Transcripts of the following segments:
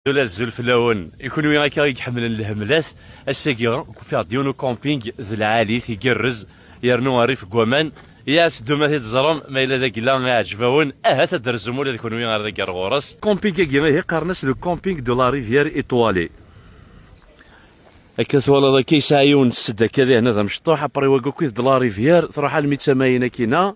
Ula azul fell-awen i kunwi akka i iḥemmlen lhemlat ass-agi ufiɣ-d yiwen ukamping d lɛalit igerrez yernu rrif n waman yas ddum ad t-id-ẓrem ma yella d agla iɛjeb-awen ahat ad d-trzum ula d kunwi ar dagi ar ɣur-s. Kamping-agi ihi qqaren-as le camping de la rivière étoilée. Akka twalaḍ akka yesɛa yiwen sed akka dihin ad amecṭuḥ apri wagi akkit de la rivière truḥ almi d tamayin akkin-a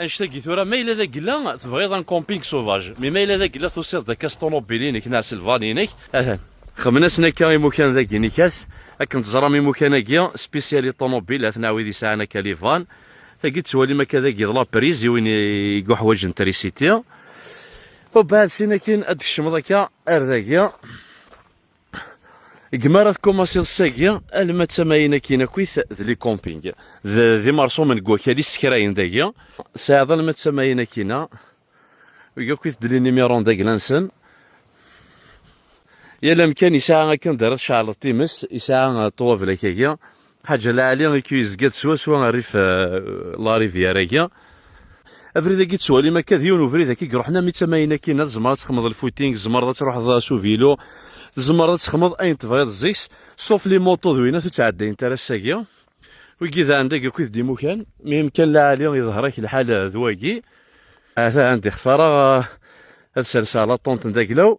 Annect-agi tura, ma yella d agella tebɣiḍ un camping sauvage, mais ma yella d agella tusiḍ-d akka s ṭunubil-inek neɣ s lvan-inek, atan. Xemmen-asen akka imukan dagi nikat, akken teẓram imukan-agi spécial i ṭunubil, aten a wid yesɛan akka livan, tagi tettwalim akka dagi d lapriz i win iguḥwaǧen trisiti, ubeɛd sin akin ad d-tkecmeḍ akka ar dagi. Gma ara tkumaṣiḍ sagi alma d tamayin akin akit d li camping d imerṣumen deg wakal issekrayen dagi sɛiḍ alma d tamayin akina akit d li numéro d aglansen yal amkan yesɛa akken d ara tceɛleḍ times yesɛa ṭwablak agi Ḥaǧ Ala Ɛli ikk yezga-d swaswa rrif larivyar-agi. Abrid-agi ttwalim akka d yiwen ubrid akka iruḥen am i tamayin akkin, tzemreḍ ad texmeḍ lfooting, tzemreḍ ad truḥeḍ s uvilu, tzemreḍ ad texmeḍ ayen tebɣiḍ zik-s, sauf les motos d winnat ur ttɛeddayent ara ass-agi. Wigi d ɛendag akkit d imukan, mi imkan laɛli iḍher-ak lḥal d wagi. Ata ɛendi xtareɣ ad serseɣ laṭṭunt n Daglaw.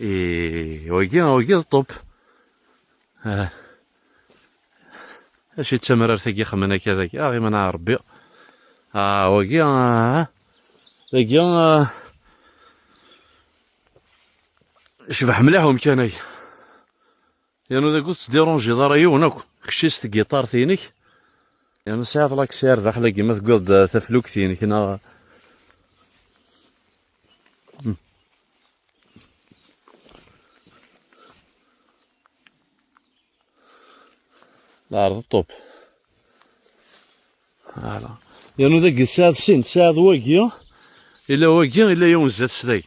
I wagi wagi d ṭup. Ah. Acu d tamrart agi xemmen akka dagi. Ah, iman a Rebbi. Ah, wagi ah. Dagi ah. Cbeḥ mliḥ umkan-agi. Yernu dagi ur tettdiṛunjiḍ ara yiwen akk. Kečč i s tgiṭart-inek. Yernu tesɛiḍ laksay ar daxel-agi ma tewwiḍ-d taflukt-inek neɣ. La ɛerḍeɣ ṭṭup. Ala. Yernu dagi tesɛiḍ sin, tesɛiḍ wagi, yella wagi, yella yiwen sdat-s dagi.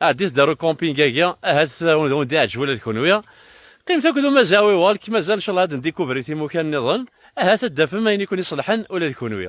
Ɛeddi tedder ukamping agi, ahat wen d-iɛǧeb ula d kenwi. Qqimet akked umazawi walk mazal ncalleh ad ndikubri timukan niḍen, ahat ad d-tafem ayen i ken-iṣelḥen ula d kenwi.